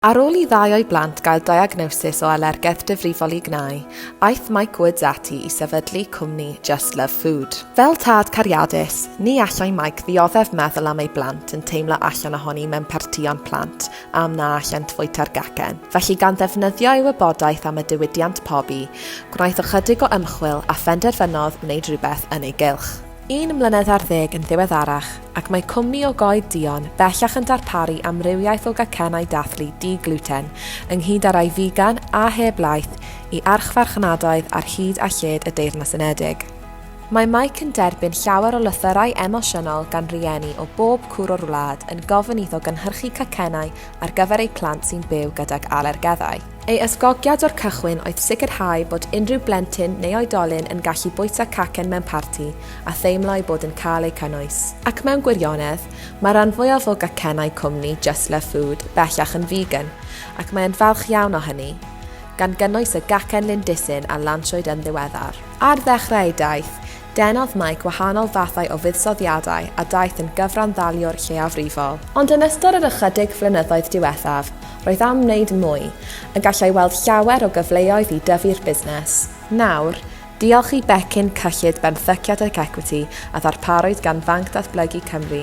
Ar ôl i ddau o'i blant gael diagnosis o alergedd difrifol i gnau, aeth Mike Woods ati i sefydlu cwmni Just Love Food. Fel tad cariadus, ni allai Mike ddioddef meddwl am ei blant yn teimlo allan ohoni mewn partïon plant am na allent fwyta'r gacen, felly gan ddefnyddio ei wybodaeth am y diwydiant pobi, gwnaeth ychydig o ymchwil a phenderfynodd wneud rhywbeth yn ei gylch. Un mlynedd ar ddeg yn ddiweddarach, ac mae cwmni o goed duon bellach yn darparu amrywiaeth o gacennau dathlu di-gluten, ynghyd â rai figan a heb laeth, i archfarchnadoedd ar hyd a lled y Deyrnas Unedig. Mae Mike yn derbyn llawer o lythyrau emosiynol gan rieni o bob cwr o'r wlad yn gofyn iddo gynhyrchu cacennau ar gyfer eu plant sy'n byw gydag alergeddau. Ei ysgogiad o'r cychwyn oedd sicrhau bod unrhyw blentyn neu oedolyn yn gallu bwyta cacen mewn parti a theimlo eu bod yn cael eu cynnwys. Ac mewn gwirionedd, mae'r rhan fwyaf o gacennau cwmni Just Love Food bellach yn figan, ac mae'n falch iawn o hynny, gan gynnwys y gacen lindisyn a lansiwyd yn ddiweddar. Ar ddechrau ei daith, Denodd Mike wahanol fathau o fuddsoddiadau a daeth yn gyfranddaliwr lleiafrifol. Ond yn ystod yr ychydig flynyddoedd diwethaf, roedd am wneud mwy, a gallai weld llawer o gyfleoedd i dyfu'r busnes. Nawr, diolch i becyn cyllid benthyciad ac ecwiti a ddarparwyd gan Fanc Datblygu Cymru,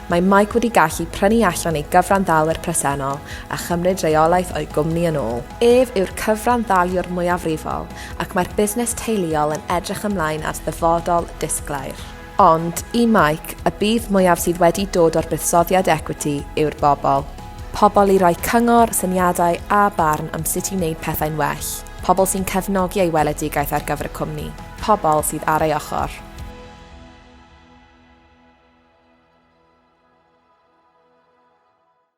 mae Mike wedi gallu prynu allan ei gyfranddalwyr presennol a chymryd reolaeth o'i gwmni yn ôl. Ef yw'r cyfranddaliwr mwyafrifol, ac mae'r busnes teuluol yn edrych ymlaen at ddyfodol disglair. Ond, i Mike, y budd mwyaf sydd wedi dod o'r buddsoddiad equity yw'r bobl. Pobl i roi cyngor, syniadau a barn am sut i wneud pethau'n well. Pobl sy'n cefnogi ei weledigaeth ar gyfer y cwmni. Pobl sydd ar ei ochr.